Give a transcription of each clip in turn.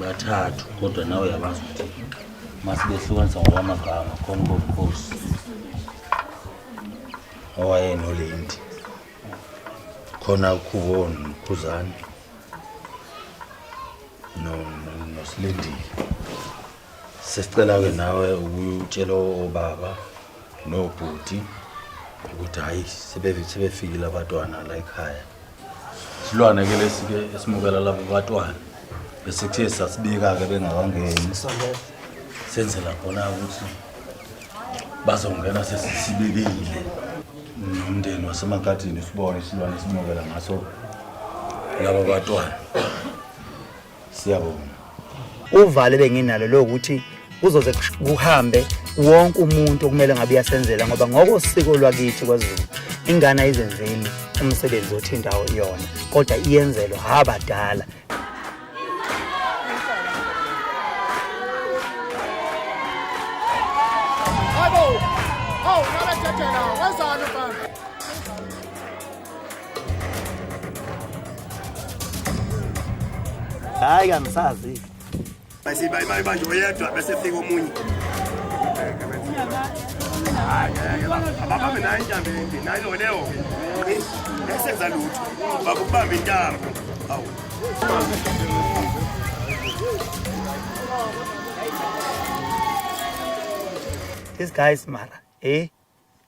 bathathu kodwa nawe uyabazi ukuthi masibehlukanisa ngokwamagama khona ubobukhosi owayenolendi khona ukhubo nokhuzane nosilindile sesicela-ke nawe ukutshela obaba nobhuti ukuthi hhayi sebefikile abatwana la ekhaya Silwane ke lesi ke esimukela labo batwana. Bese kuthe sasibika ke bengakangeni. Senzela khona ukuthi bazongena sesisibikile. Nomndeni wasemakhathini sibone isilwane simukela ngaso labo batwana. siyabonga uvalo benginalo lokuthi kuzoze kuhambe wonke umuntu okumele ngabe uyasenzela ngoba ngokosiko lwakithi kwaZulu ingane ayizenzeli umsebenzi othi indawo iyona kodwa iyenzelwa abadala hayi kangisazi basibayibayi manje oyedwa bese fika omunye ababambe nayo intambo ende nayo loleyo-ke esenza lutho bakubamba intambo awu These guys, Mara, eh?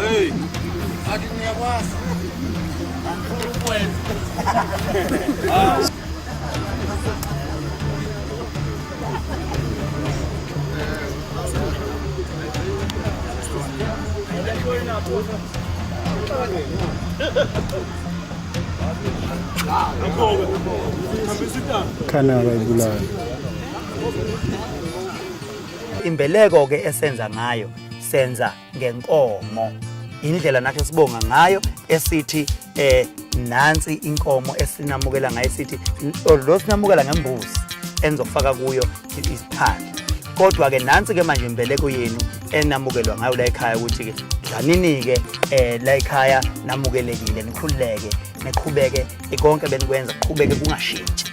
Hey, hadi niyakwazi. Khana bayibulala. Imbeleko ke esenza ngayo senza ngenkomo indlela nathi esibonga ngayo esithi eh nansi inkomo esinamukela ngayo sithi lo sinamukela ngembuzi enizokufaka kuyo isiphande kodwa-ke nansi-ke manje imbeleko yenu enamukelwa ngayo la ekhaya ukuthi-ke dlanini-ke um la ekhaya namukelekile nikhululeke niqhubeke konke benikwenza kuqhubeke kungashintshi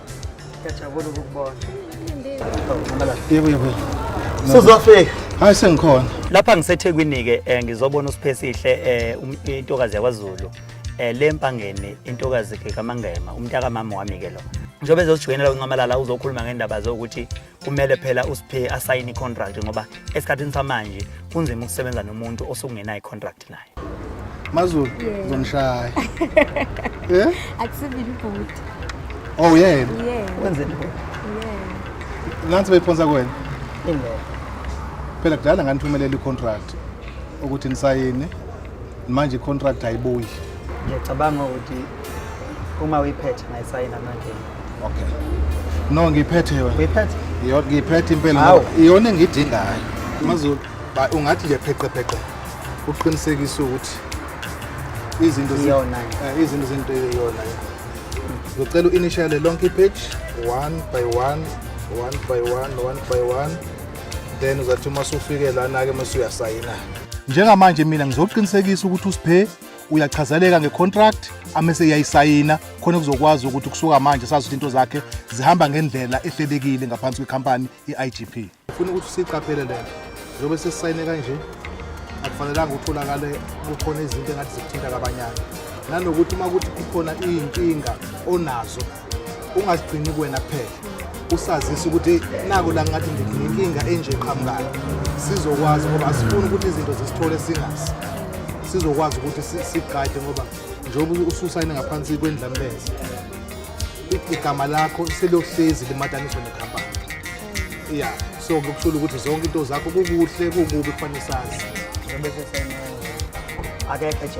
Ngiyajabula ukukubona. Sizofika. Hayi sengikhona. Lapha ngiseThekwini ke eh, ngizobona uSiphesihle eh, um- intokazi yakwaZulu. Eh, le mpangeni intokazi ke kaMangema, umntaka mama wami ke lo. Njengoba ezosijoyinela uNcamalala uzokhuluma ngendaba zokuthi kumele phela usiphe asayine icontract ngoba esikhathini samanje kunzima ukusebenza nomuntu osukungenayo icontract naye mazulu ngizonishaya eh akusivile ibhuti oh yeah wenzeni yeah nansi beyiphonsa kuwena ingoba phela kudala nganithumelela icontract ukuthi nisayine manje icontract ayibuyi ngiyacabanga ukuthi uma uyiphethe ngayisayina manje Okay. No ngiphethe yona. Uyiphethe? Yona ngiphethe impela Awu. ngoba iyona engidingayo. Mazulu, ba ungathi nje pheqe pheqe. Uqinisekisa ukuthi izinto zi- Iyona nje. eh, izinto zinto iyona. Ngicela uinitiale lonke page one by one, one by one, one by one. Then uzathi uma usufike lana ke mase uyasayina. Njengamanje mina ngizoqinisekisa ukuthi uSiphe uyachazeleka ngecontract amese iyayisayina khona kuzokwazi ukuthi kusuka manje sazi ukuthi into zakhe zihamba ngendlela ehlelekile ngaphansi kwekhampani i-igp ufuna ukuthi siyiqaphele le nto zobe sesisayine kanje akufanelanga utholakale kukhona izinto engathi zikuthinta kabanyana nanokuthi uma kuthi kukhona iy'nkinga onazo ungazigcini kuwena kuphela usazisa ukuthi nako la ngathi nginenkinga enje qhamukayo sizokwazi ngoba asifuni ukuthi izinto zisithole singazi sizokwazi ukuthi sigade ngoba njengoba ususayine ngaphansi kwendlamleza igama lakho selohlezi limataniswa nekhampani ya so ngokushula ukuthi zonke into zakho kukuhle kukubi kufanele sazi akekho nje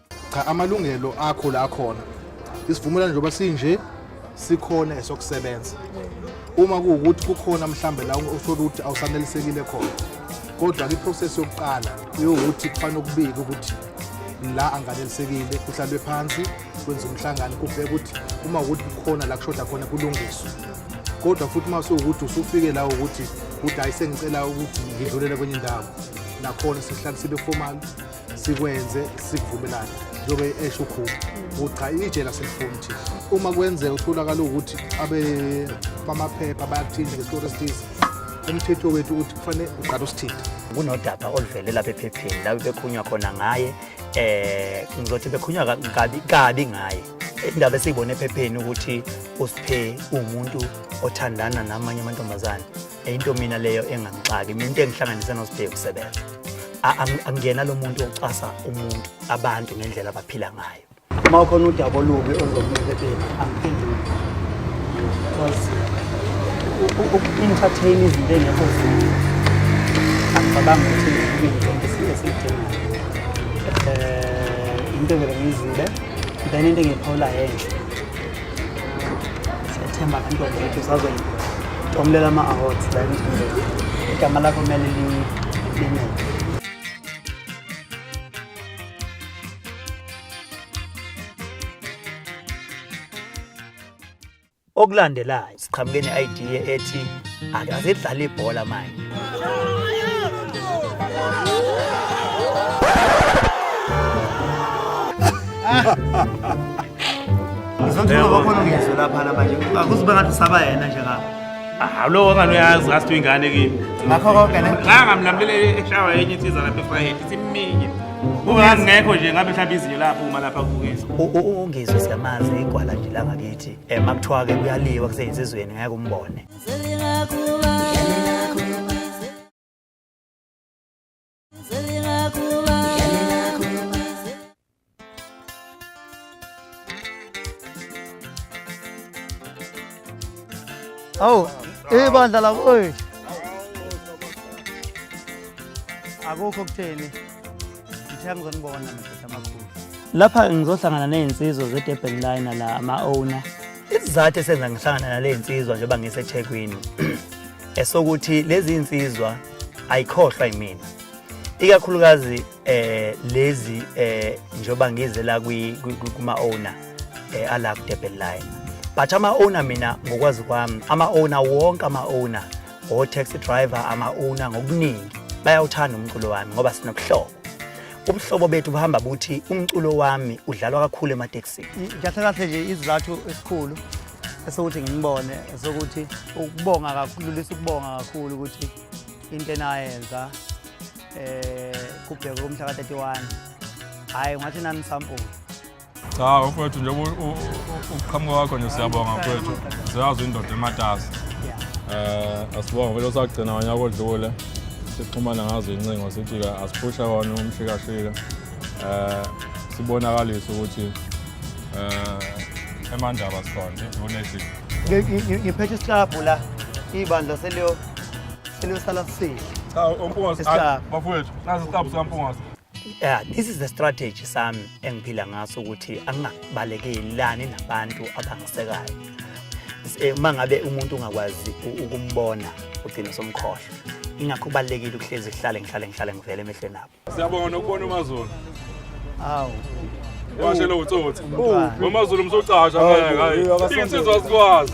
cha amalungelo akho la khona isivumelwano njengoba sinje sikhona esokusebenza uma kuwukuthi kukhona mhlambe la uthola ukuthi awusanelisekile khona kodwa kwiprocess yokuqala yokuthi kufanele ukubike ukuthi la anganelisekile kuhlalwe phansi kwenza umhlangano kubheka ukuthi uma ukuthi kukhona la kushoda khona kulungiswe kodwa futhi uma sewukuthi usufike la ukuthi udayise ngicela ukuthi ngidlulele kwenye indawo nakhona sihlale sibe formal sikwenze sivumelane njengoba esho ukhulu ukuthi cha itshe laselifuni thi uma kwenzeka utholakala ukuthi abe bamaphepha bayakuthinta ngesikoro esithize umthetho wethu ukuthi kufanele uqala usithinta kunodaba oluvele lapha ephepheni lapho bekhunywa khona ngaye eh ngizothi bekhunywa kabi kabi ngaye indaba esiyibona ephepheni ukuthi uSiphe umuntu othandana namanye amantombazane into mina leyo engangixaki mina into engihlanganise nosibheke ukusebenza angiyena lo muntu ocasa umuntu abantu ngendlela abaphila ngayo uma ukhona udaba olubi oluzokuphepheni angiphenduli because uku-entertain izinto engekho zinto angicabangi ukuthi ngiyinto esiyidingayo um eh, into vele ngiyizile then into engiyiphawula yenhle Siyathemba abantwana bethu sazoyitomulela ama-awards la emfundweni. Igama lakho kumele limele. okulandelayo. siqhamuke ne-idea ethi akasedlala ibhola manje Ngizothula bakhona ngizwe lapha namanje. Akuzibe ngathi usaba yena nje ngapha. Ah, lo ngani uyazi ngathi uyingane kimi. Ngakho konke ne. Ngangamlamlele eshawa yenye insizwa lapha eFrayhead. Ithi mingi. Ungangekho nje ngabe mhlawumbe izinyo lapho uma lapha kubukisa. Ungizwe siyamazi igwala nje la ngakithi. um makuthiwa-ke kuyaliwa kuseyinsizweni ngeke umbone awu ibandla lakoyi akukho kutheni lapha ngizohlangana ney'nsizwa ze-durban liner la ama-owner isizathu esenza ngihlangana nale nsizwa njengoba ngisethekwini esokuthi lezi nsizwa ayikhohlwa yimina ikakhulukazi eh lezi eh njengoba ngize la kuma owner eh ala ku Durban line but ama owner mina ngokwazi kwami ama owner wonke ama owner O-taxi driver ama-owner ngokuningi bayawuthanda umculo wami ngoba sinobuhlobo. Ubuhlobo bethu buhamba buthi umculo wami udlalwa kakhulu ematekisini. Kahle kahle nje isizathu esikhulu esokuthi ngimubone esokuthi ukubonga kakhulu lisa ukubonga kakhulu ukuthi into enayenza eh kubhekwe umhla ka-31 hhayi ngathi nanisampula Cha mfowethu nje ukuqhamuka kwakho nje siyabonga mfowethu. Siyazi indoda ematasa. Eh asibonga vele osagcina wanya kodlule. Sixhumana ngazo incingo sithi ke asiphusha wona umshikashika. Eh sibonakalisa ukuthi eh emandaba sikhona unethi. Ngiphethe isihlabhu la ibandla seliyo seliyosala sihle. Cha umpungasi bafowethu nazi isihlabhu sikampungasi. yeah, this is the strategy sami engiphila ngaso ukuthi angingabalekeli nabantu abangisekayo eh, uma ngabe umuntu ungakwazi ukumbona ugcine somkhohlwa ingakho kubalulekile ukuhlezi kuhlale ngihlale ngihlale ngivele emehlweni abo siyabonga nokubona umazulu awu washe lo utsotsi umazulu msocasha ngeke hayi insizwa sikwazi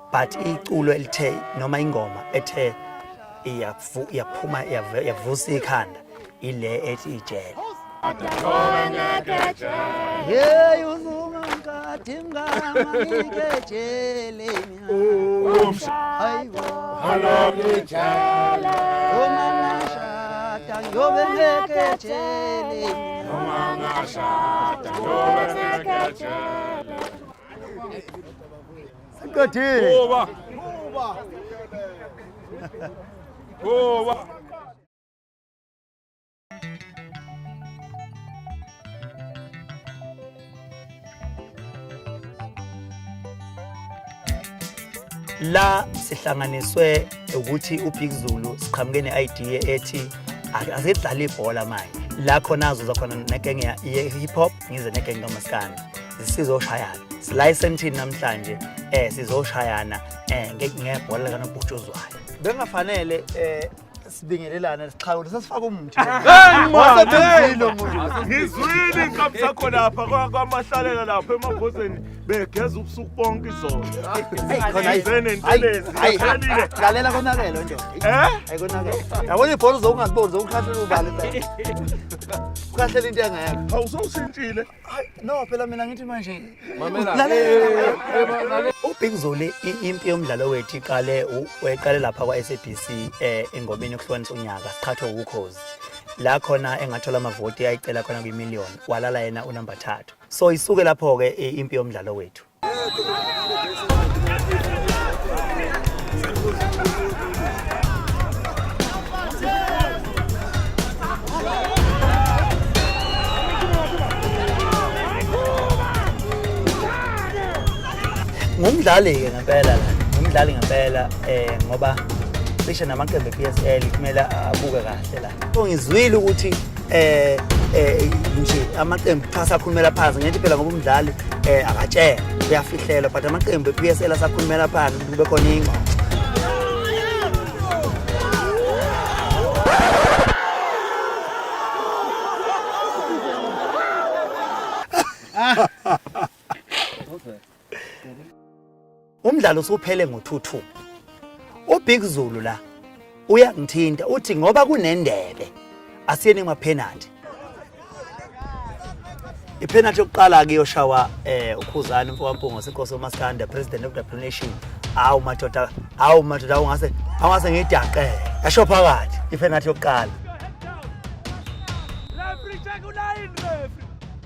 but iculo elithe noma ingoma ethe iyaphuma yavusa ikhanda ile ethi ijele yeyi uzungangikade mnganganikejele hayibo halokijele uma ngashada ngiyobe ngekejele uma ngashada ngiyobe ngekejele Siqedile. Kuba. Kuba. Kuba. la sihlanganiswe ukuthi uBig Zulu siqhamuke ne-idea ethi asidlale ibhola manje la khona azoza khona nekenge ye-hip hop ngize negenge kamaskane sizoshayana silayiseni thini namhlanje um sizoshayana um ngebhola likanobhutshuzwayo bengafanele um sibingelelane sixhawule sesifaka umuthi ngizwile ngizwile inkabi sakho lapha kwamahlalela lapha emabhozeni begeza ubusuku bonke izolo lalela konakele nje ayikonakele eh? yabona ibhola uzokungaziboni zokukhahlele ubale ukhahlele into engekho awusowushintshile no phela mina ngithi manje ubig zoli impi yomdlalo wethu iqale weqale lapha kwa-sabc um eh, engomeni yokuhlukanisa unyaka siqhathwe wukhozi la khona engathola amavoti ayicela khona kwimillion walala yena unumber thathu so isuke lapho ke eh, impi yomdlalo wethu ngumdlali-ke ngempela la ngumdlali ngempela um ngoba cishe namaqembu e-p s l kumele abuke kahle la Ngizwile ukuthi eh eh nje amaqembu cha sakhulumela phansi ngithi phela ngoba umdlali eh akatshela uyafihlela but amaqembu ePSL asakhulumela phansi kube khona ingxoxo Ah. Umdlalo usuphele ngo-2-2. UBig Zulu la uyangithinta uthi ngoba kunendebe asiyeni emapenalty. Ipenalty yokuqala ke yoshawa eh uKhuzani mfowampungo seNkosi uMaskanda president of the nation. Awu madoda, awu madoda ungase awase ngidaqe. Yasho phakathi ipenalty yokuqala. Referee check ulayini referee.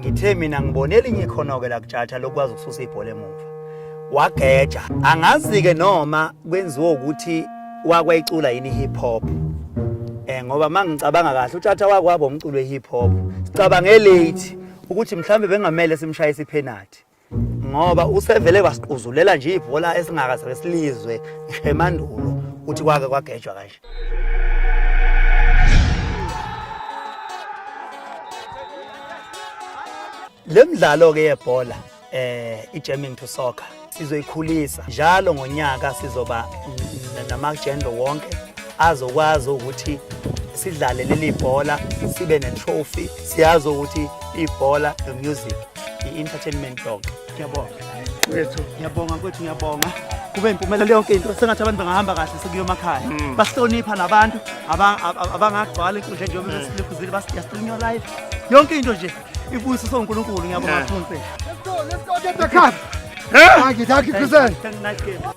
ngithe mina ngibone elinye ikhono-ke lakutshatha lokwazi ukususa ibhola emuva wageja angazi-ke noma kwenziwa ukuthi wakwayicula yini i-hip hop um ngoba uma ngicabanga kahle utshatha wakwabo umculo we-hip hop sicabange late ukuthi mhlawumbe bengamele simshaye isiphenathi ngoba usevele wasiquzulela nje ibhola esingakaze silizwe ngisho emandulo ukuthi kwake kwagejwa kanje le mdlalo ke yebhola eh ijamming to soccer sizoyikhulisa njalo ngonyaka sizoba namagender wonke azokwazi ukuthi sidlale leli bhola sibe ne-trophy siyazi ukuthi ibhola no-music i-entertainment dog ngiyabonga wethu ngiyabonga kwethu ngiyabonga kube impumelelo yonke into sengathi abantu bangahamba kahle sekuyomakhaya mm. basihlonipha nabantu abangagcwala inkundla njengoba mm. besilekhuzile basiyastrinya your life yonke into nje ibuyiso sonkulunkulu ngiyabonga mfunse Thank you, thank you, Kuzen. Thank you, nice game.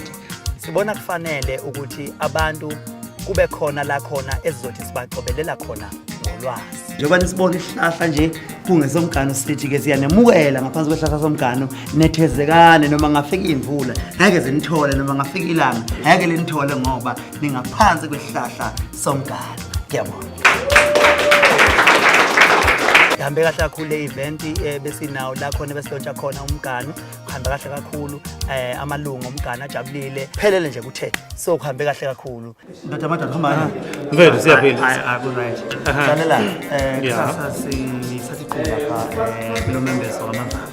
sibona kufanele ukuthi abantu kube khona la khona esizothi sibacobelela khona ngolwazi njengoba nisibona isihlahla nje kungesomgano sithi-ke siyanemukela ngaphansi kwesihlahla somgano nethezekane noma ngafika imvula ngeke zinithole noma ngafika ilanga ngeke linithole ngoba ningaphansi kwesihlahla somgano ngiyabona ihambe kahle kakhulu le event eh, besinawo la khona besilontsha khona umgano kuhambe kahle kakhulu um amalungu omgane ajabulile phelele nje kuthe so kuhambe kahle kakhulu ndoda amadoda hambani mfethu siyaphila janela um eh, kusasa sithatha iqola pha um kulo membeso wamazana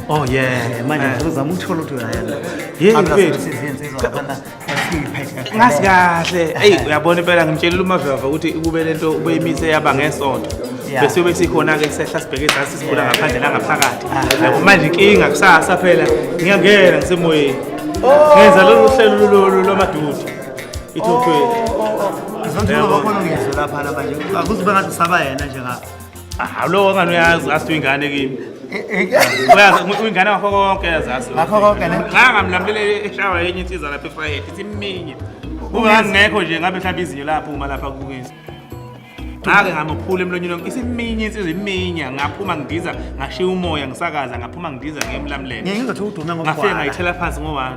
oh yeah manje ngizama ukuthola ukuthi uyayena yini mfethu ngazi kahle eyi uyabona impela ngimtshelile umaveva ukuthi ukube le nto ubeyimise yaba ngesonto bese yobe sikhona-ke kusehla sibheke ezansi sibula ngaphandle nangaphakathi yabo manje inkinga kusasa phela ngiyangena ngisemoyeni oh. ngenza lolu hlelo lolu lwamadudi ithophweni oh, oh, ngizonjengabakholongizwe lapha la manje akuzibe ngathi usaba yena nje ngapha hawu lowo ongani uyazi ngathi uyingane kimi uyazi uyingane ngakho konke yazazi Ngakho konke, ne? ngangamlamulele eshawa yenye insiza lapha efayethe ithi iminye uma ngingekho nje ngabe mhlawumbe izinyo laphuma lapha kubukisa ngake ngamuphula emlonyeni wonke isiminye insizwa iminya ngaphuma ngidiza ngashiya umoya ngisakaza ngaphuma ngidiza ngiyemlamulele ngizothi udume ngafike ngayithela phansi ngo-one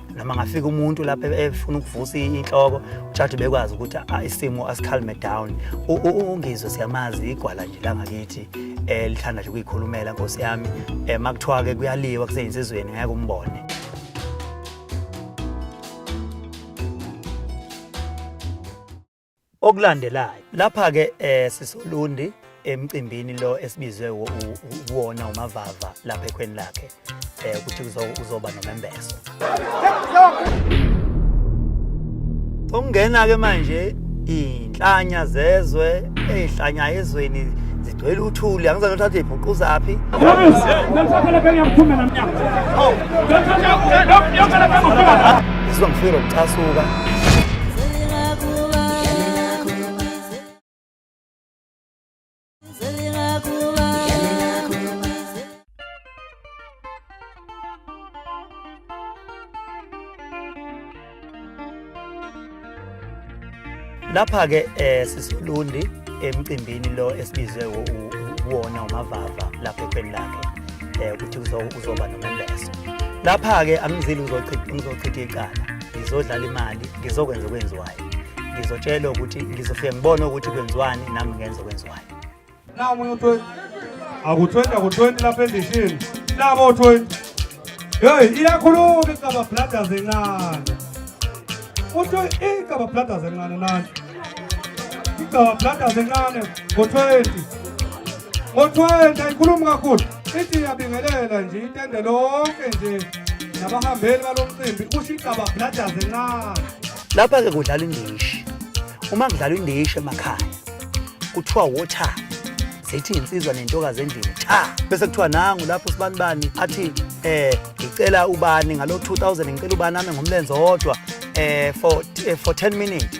noma ngafika umuntu lapha e-, efuna ukuvusa inhloko ujaji bekwazi ukuthi isimo asikhalme down ungizwe siyamazi igwala nje langakithi eh, lithanda nje ukuyikhulumela nkosi yami eh, makuthiwa ke kuyaliwa kuseyinsizweni ngeke umbone okulandelayo lapha ke eh sisolundi emcimbini lo esibizwe uwona umavava lapha ekhweni lakhe eh ukuthi uzoba nomembeso ungena ke manje inhlanya zezwe ezihlanya ezweni Ngicela uthuli angizange uthathe ibhuquzaphi. Ngizwa ngifike nokucasuka. lapha ke eh sisilundi emcimbini lo esibizwe uwona umavava lapha ekhweni lakhe eh ukuthi uzoba nomembeso lapha ke angizili uzochitha ngizochitha icala ngizodlala imali ngizokwenza okwenziwayo ngizotshelwa ukuthi ngizofike ngibone ukuthi kwenziwani nami ngenze okwenziwayo Nawu omunye u-20. Aku-20 aku-20 lapha endishini. Nabo u-20. Hey, iyakhuluma iGaba Brothers encane. Uthi iGaba Brothers encane nani. iGaba Brothers encane ngo-20. Ngo-20 ayikhulumi kakhulu. Ithi iyabingelela nje itende lonke nje nabahambeli balo mcimbi usho iGaba Brothers encane. Lapha-ke kudlala indishi. Uma kudlalwa indishi emakhaya kuthiwa water zithi insizwa nentokazi endlini cha bese kuthiwa nangu lapho sibani bani athi eh ngicela ubani ngalo 2000 ngicela ubani ame ngomlenze wodwa eh for eh, for 10 minutes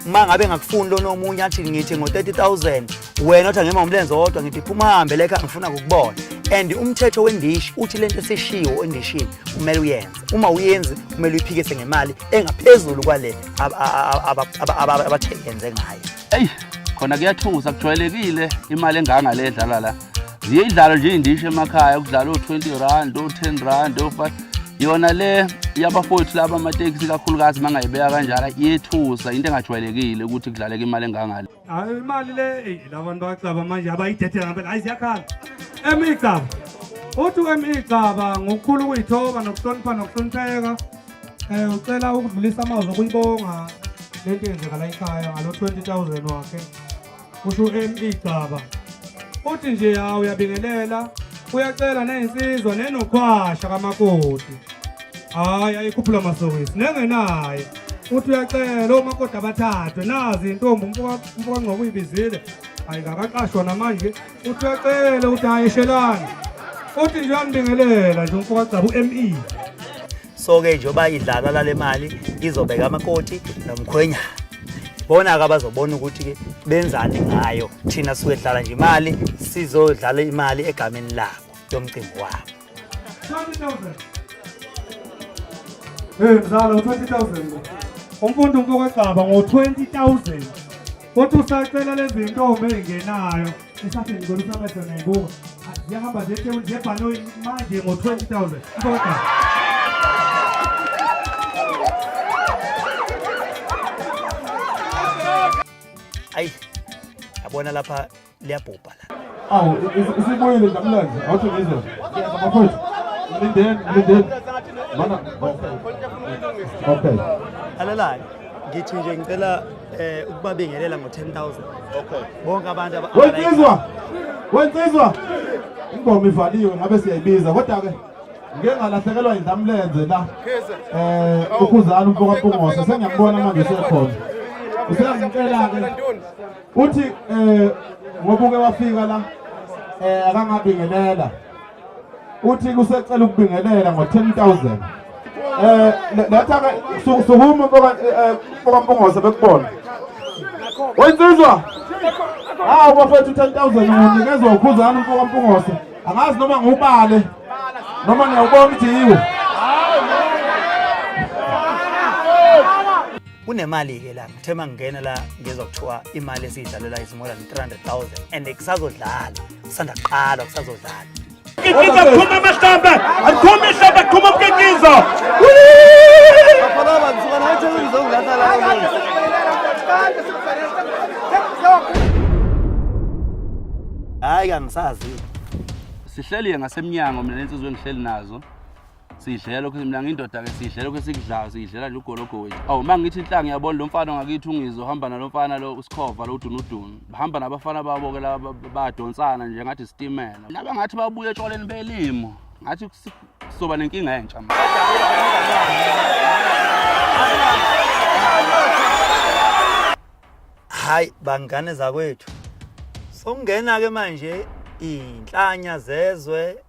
uma ngabe ngakufuni lona omunye athi ngithi ngo 30000 wena othi angema ngomlenze wodwa ngithi phuma uhambe leka ngifuna ukubona and umthetho wendishi uthi lento esishiwo endishini kumele uyenze uma uyenzi kumele uyiphikise ngemali engaphezulu kwale abathengenze ngayo eyi khona kuyathusa kujwayelekile imali enganga le edlalwa la ziye idlalo nje iy'ndisho emakhaya kudlala o-twenty rand o-ten rand o-five yona le yabafowethu laba amatekisi kakhulukazi uma ngayibeka kanjalo iyethusa into engajwayelekile ukuthi kudlaleka imali engangale Hayi imali le eyi labantu bacaba manje abayithethe ngempela hayi ziyakhala emigcaba uthi emigcaba ngokukhulu ukuyithoba nokuhlonipha nokuhlonipheka um ucela ukudlulisa amazwi okuyibonga le nto yenzeka la ekhaya ngalo 20000 wakhe kusho emigcaba uthi nje hawu uyabingelela uyacela neyinsizwa nenokhwasha kamakoti hayi ayikhuphula masokisi nengenaye uthi uyacela omakoti abathathwe nazi intombi umfokangcobo uyibizile hayi kakaqashwa namanje uthi uyacela ukuthi hayi eshelani uthi nje uyambingelela nje umfokagcaba u-me so-ke njengoba idlalwa lale mali izobeka amakoti nomkhwenyana bona-ke abazobona ukuthi-ke benzani ngayo thina suke dlala nje imali sizodlala imali egameni labo yomcimbi wabo 20,000. Hey mzala 20,000. Umfundi umfokwegcaba ngo 20,000. Kodwa usacela lezi ntombi ezingenayo. Isathi ngicela usamehlo ngebuka. Ziyahamba zethe unjebhanoyi manje ngo 20,000. Mfokwegcaba. ayi yabona lapha liyabhubha la awu isibuyile ndamlanje awuthi ngizwe abafowethu mlindeni mlindeni mana okay alalayo ngithi nje ngicela eh ukubabingelela ngo 10000 okay bonke abantu wensizwa wensizwa ingoma ivaliwe ngabe siyayibiza kodwa ke ngeke ngalahlekelwa indamlenze la eh ukhuzana umfoka Mpungose sengiyambona manje sekhona usengicela ke uthi eh ngoba uke wafika la eh akangabingelela uthi kusecela ukubingelela ngo 10000 eh letha ke sukuma mfoka eh, mfoka Mpungose bekubona Wensizwa Hawu bafethu 10000 unikezwa ukhuzana mfoka Mpungose angazi noma ngubale noma ngiyawubona ukuthi yiwo kunemali-ke la ngithe uma ngingena la ngizwa kuthiwa imali esiyidlalela is more than 300,000 and kusazodlala kusanda kuqala kusazodlala Kikiza phuma amahlamba aphuma ihlamba phuma umkikizo hayi kangisazi sihleliye ngasemnyango mina nensizwe engihleli nazo sidlela lokhu mina ngindoda ke sidlela lokhu esikudlayo sidlela nje ugologo wethu awu uma ngithi inhlanga yabona lo mfana ngakithi ungizo hamba nalo mfana lo usikhova lo udunudunu bahamba nabafana babo ke laba badonsana nje ngathi sitimela laba ngathi babuye etshwaleni belimo ngathi sizoba nenkinga entsha manje hayi bangane zakwethu sokungena ke manje inhlanya zezwe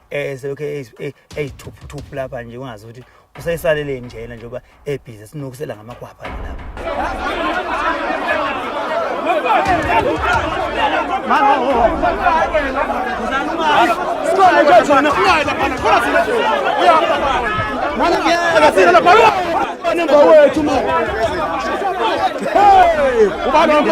eh selokhu eyithuphuthuphu lapha nje ungazi ukuthi useyisaleleni nje yena njengoba ebhizi sinokusela ngamakwapha lapha Hey! Ubani wami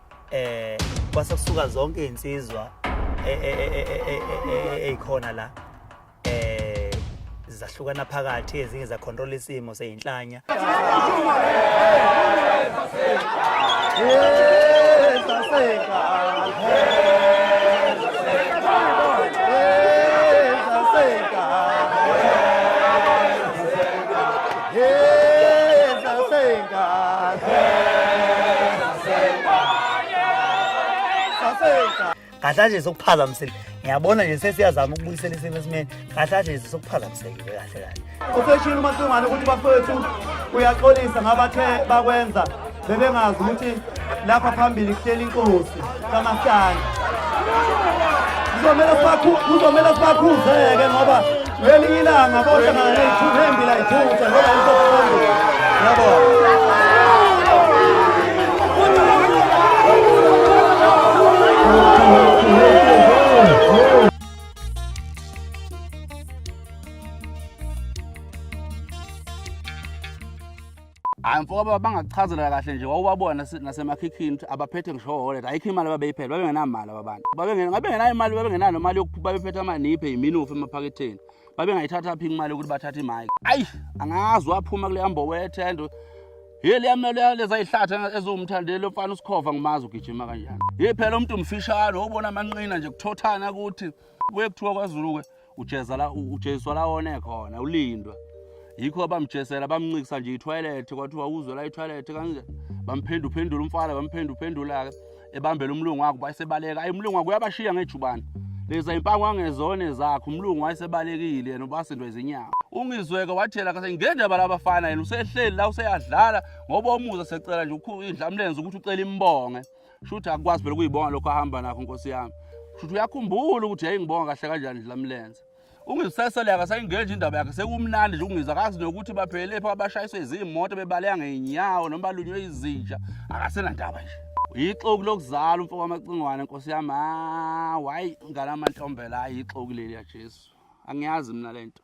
eh kwase kusuka zonke izinsizwa ezikhona la eh zahlukana phakathi ezinye za control isimo seyinhlanya kahle nje sokuphazamisile ngiyabona nje sesiyazama ukubuyisela isimo esimeni kahle nje sokuphazamisekile kahle kahle useshilo umasingwane ukuthi bafowethu uyaxolisa ngabathe bakwenza bebengazi ukuthi lapha phambili kuhleli inkosi kamasana kuzomele kuzomele sibakhuzeke ngoba ngelinye ilanga bohlangana neyithuba embi layithutha ngoba isophambili yabo hayi mfoka baba bangakuchazela kahle nje wawubabona nasemakhikhini ukuthi abaphethe ngisho wallet ayikho imali ababeyiphela babengenamali ababantu babengenayo imali babengenayo nomali yokuphupha bephethe amaniphe yiminufu emaphaketheni babengayithatha phi imali yokuthi bathathe imike ayi angazi waphuma kuleya mbobo yethendo ye liyamele leza yihlathi eziwumthandeli lomfana usikhova ngimazi ugijima kanjani ye phela umuntu umfishane wobona amanqina nje kuthothana ukuthi kuye kuthiwa kwazulu-ke ujeza la ujeswa la one khona ulindwa yikho abamjesela bamncikisa nje ithoyilethi kwathiwa uzwe la ithoyilethi kanje bamphendu phendula umfana bamphendu phendula ebambela umlungu wakhe bayisebaleka ayi umlungu wakhe uyabashiya ngejubane leza impango angezone zakhe umlungu wayesebalekile yena ubasindwa izinyawo ungizweke wathela kase ngendaba labafana yena usehleli la useyadlala ngoba umuza secela nje indlamlenze ukuthi ucela imbonge shuthi akukwazi phela ukuyibonga lokho ahamba nakho nkosi yami shuthi uyakhumbula ukuthi yayingibonga kahle kanjani nje lamlenze ungisesele akasayingenje indaba yakhe sekumnandi nje ukungiza kazi nokuthi baphelele pha bashayiswe izimoto bebaleka ngeenyawo noma balunywe izinja akasenandaba nje yixoki lokuzala umfo wamacingwane nkosi yami hayi ngalamantombela hayi yixoki leli ya Jesu angiyazi mina lento